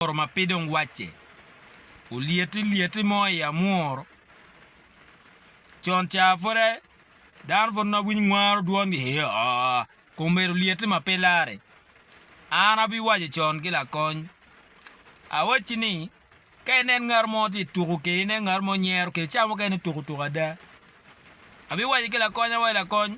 Amworo ma pe dong wacce. Olyeti lyeti mo i amworo. Con ca pwod dano pwod nongo winyo mwaro dwongi hee ooh kong bedo lyeti ma pe larre. An abiwaco con ki lakony, awacci ni ka inen ngat mo tye ka tuko keni, inen ngat mo nyero keni, ca mukene tuko tuko ada, abiwaco ki lakony ni lakony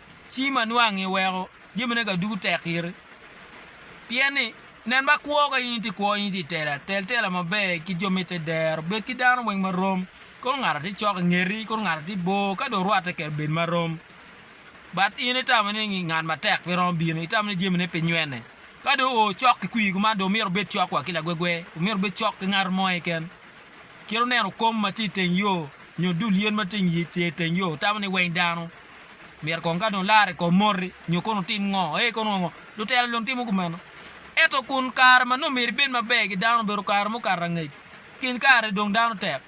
ci ma nwang iweko jamine ga ducu tek iri. Pien ni, nen ba kwo ka in itye kwo in itye itela tel tela maber ki jo ma ite dero, bed ki dano weng ma rom, kono ngat atye cok ingeti, kono ngat atye bor, ka dong orwatte kede bed ma rom. But in itamo ni ngi ngat matek pe romo bino, itamo ni jamine pe nywene. Ka dong oo cok ki kwir kuman dong omyero obed cok wa ki lagwegwe, omyero obed cok ki ngat mo keken. Kit oneno kom ma tye iteng yo nyo dul yen ma tye inge teng yo, otamo ni weng dano. myero kong ka dong larre kong moti nyo kono otim ngo, ee kono ngo, lutela dong timo kumeno. Ento kun kare ma nongo myero ibed maber ki dano obedo kare mukato angec, kin kare-ni dong dano tek.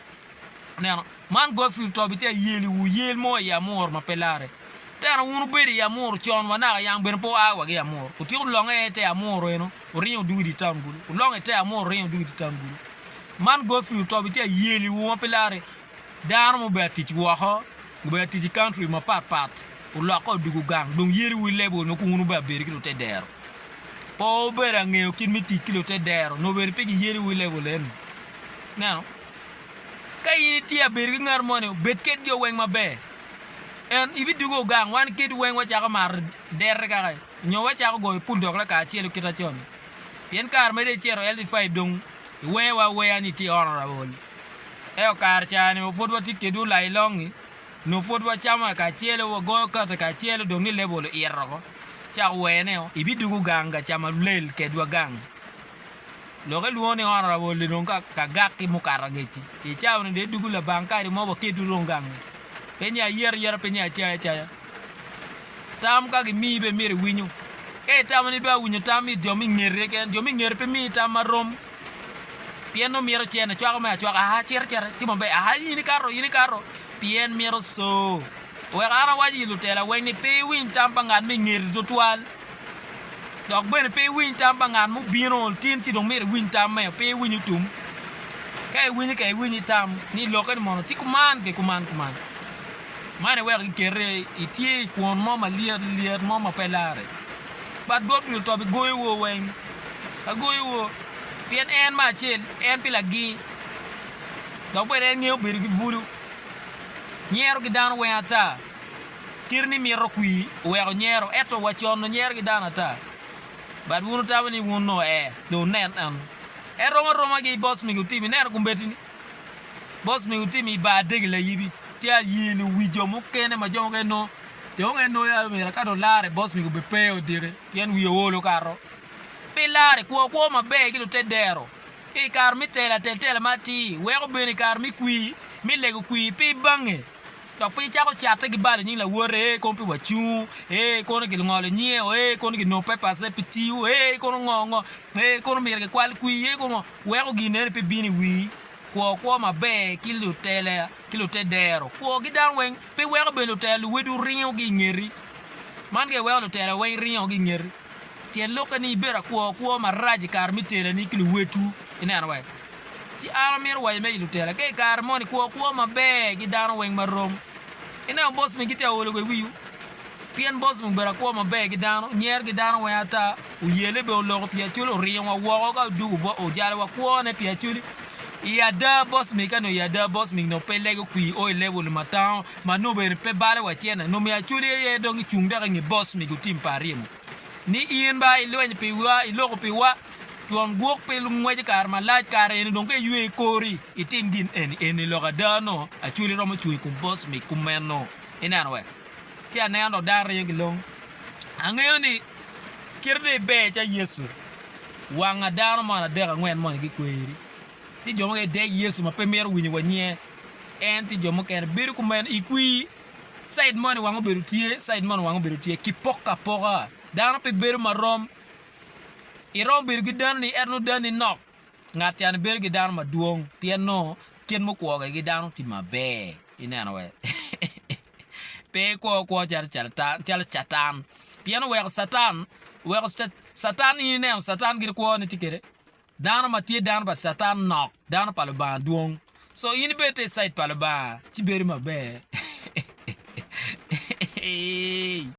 Ineno? Man Godfrey Tobi tye ayeli wu yel mo i Amuru ma pe larre. Tena wun wubedo i Amuru con wa naka yang bene pe wua wa ki i Amuru. Wutyeko longe i te Amuru eno, wuringo wudugo i dye taun kulu. Wulongo i te Amuru wuringo wudugo i dye taun kulu. Man Godfrey Tobi tye ayeli wu ma pe larre. Dano ma obedo ka tic woko, obedo ka tic i country mapat pat, olokke odoko gang dong yeli wi level nongo kong wun wubed abeda ki lute dero. Pe wubedo angeyo kit me tic ki lute dero nongo bene pe giyeli wi level eni. Ineno? Ka in itye ka bedo ki ngat moni, bed kedgi o weng maber. En, ibidoko gang, wan kedwu weng wacako mato dere kaka en, nyo wacako goyo pul dok lakacelo kit ma con-ni. Pien kare ma dong icito LD5 dong iweyowa aweya ni itye honourable. Ento kare caa-ni wa pud watye kedwu lailong-ngi, nyo pud wacamo kacelo, wagoyo kate kacelo, dong ni lebol oito oko, ca ower ni ibidugu gang ka cama lel kedwa gang. Lok ilwongo ni ot Arabol-li dong ka gak ki mukato angec-ci. I caa-ni dong idugu labang kadi mo waketwu dong gang-ngi. Pe ni ayet ayeta, pe ni acay acaya. Tam ka gimiyi bene myero iwinyu. Ka itamo ni dong awinyo tam it jo me ingeti keken, jo me ingeti pe miyi tam ma rom. Pien nongo mito ce en ecwako me acwaka, aa, cit, cit, timo maber, aa, in ikato, in ikato, pien mito co. Wek an awac i lutela weng ni pe iwiny tam pa ngat ma i ngeti twatwal, dok bene pe iwiny tam pa ngat ma obino tin ci dong myero iwiny tamme, pe iwiny otum. Ka iwinyo ka iwiny itam ni lokke ni mono tye kuman ki kuman kuman. Man eweko giketi itye i kwon mo malyet lyet mo ma pe larre. But bot nyo top i gongi wo weng ma gongi wo, pien en me acel en pi lagi, dok bene en ngeyo bedo ki bulu. Nyero ki dano weng ata, kit ni mito kwi oweko nyero, eto wa con do nyero ki dano ata. But wun wutamo ni wun noo ee, do wunen en. En rom aroma gi bos migi otim, ineno kombeddi ni bos migi otim i bar adegi layibi, tye ayie ni owi jo mukene ma jo mukene nongo Dong en nongo yam omyero ka dong larre boss mege obed pe odiki pien wiye ool okato. Pi larre, kwo kwo maber ki dong te dero i kare me telo atel tela ma atir weko bene i kare me kwir me lego kwir pe bange dok pe icako catte ki balo nying lawote ee kono pe wacungu ee kono gilungolo nyinge o ee kono ginongo papers ne pe tiyo ee kono ngo ngo ee kono myero gikwal kwir ee kono ngo weko gin eni pe bino i wii. Kwo kwo maber ki lutela. ki lute dero kwogi dano weng pi weko bene lutela luwedwu ringo gi ingeti. Man gire weko lutela weng ringo gi ingeti. Tyen lokke ni ibedo akwo kwo marac i kare me tela ni ki luwedwu. Ineno wa? Ci an amito waco me i lutela ka i kare moni kwo kwo maber gi dano weng marom. Ineno boss megi tye aolo wa i wiwu. Pien Bocim obedo akwo maber ki dano, nyer ki dano weng ata, oyelle bene oloko pi acoli, oringowa woko ka odwogo bwa, ojalo wa kwone pi acoli. I ada Bocim, ka nongo i ada Bocim nongo pe lego kwir o i level ma tango, ma nongo bene pe balo wa cen na, nongo me acoli aye dong icung dok inge Bocim otim pa arimo ni in ba ilwenyo pi wa, iloko pi wa, twon gwok pi lungwec i kare malac, kare eni dong ka iywe i kori, itim gin eni, eni lok ada nongo acoli romo cung i kom Bocim kumeno. Ineno wek. ci aneno dano aryo gilong. Angeyo ni kite dong iber calo Yecu, wanga dano man adek angwen moni gikweri. Tye jo mukene gidec Yecu ma pe mito winyo wa nyinge, en tye jo mukene bedo kumeno i kwi, cid moni wanga obedo tye, cid moni wanga obedo tye, kipoko apoka, dano pe bedo marom. Iromo bedo ki danoni ento nongo danoni nok, ngat cani bedo ki dano madwong pien nongo kit mukwogi ki dano tye maber ineno wee. Pe ikwo kwo calo Catan. Pien oweko Catan, oweko Catan, in ineno Catan gire kwo ne tye kede. Dano ma tye dano pa Catan nok, dano pa Lubanga dwong. So in ibed te i cait pa Lubanga ci bedo maber.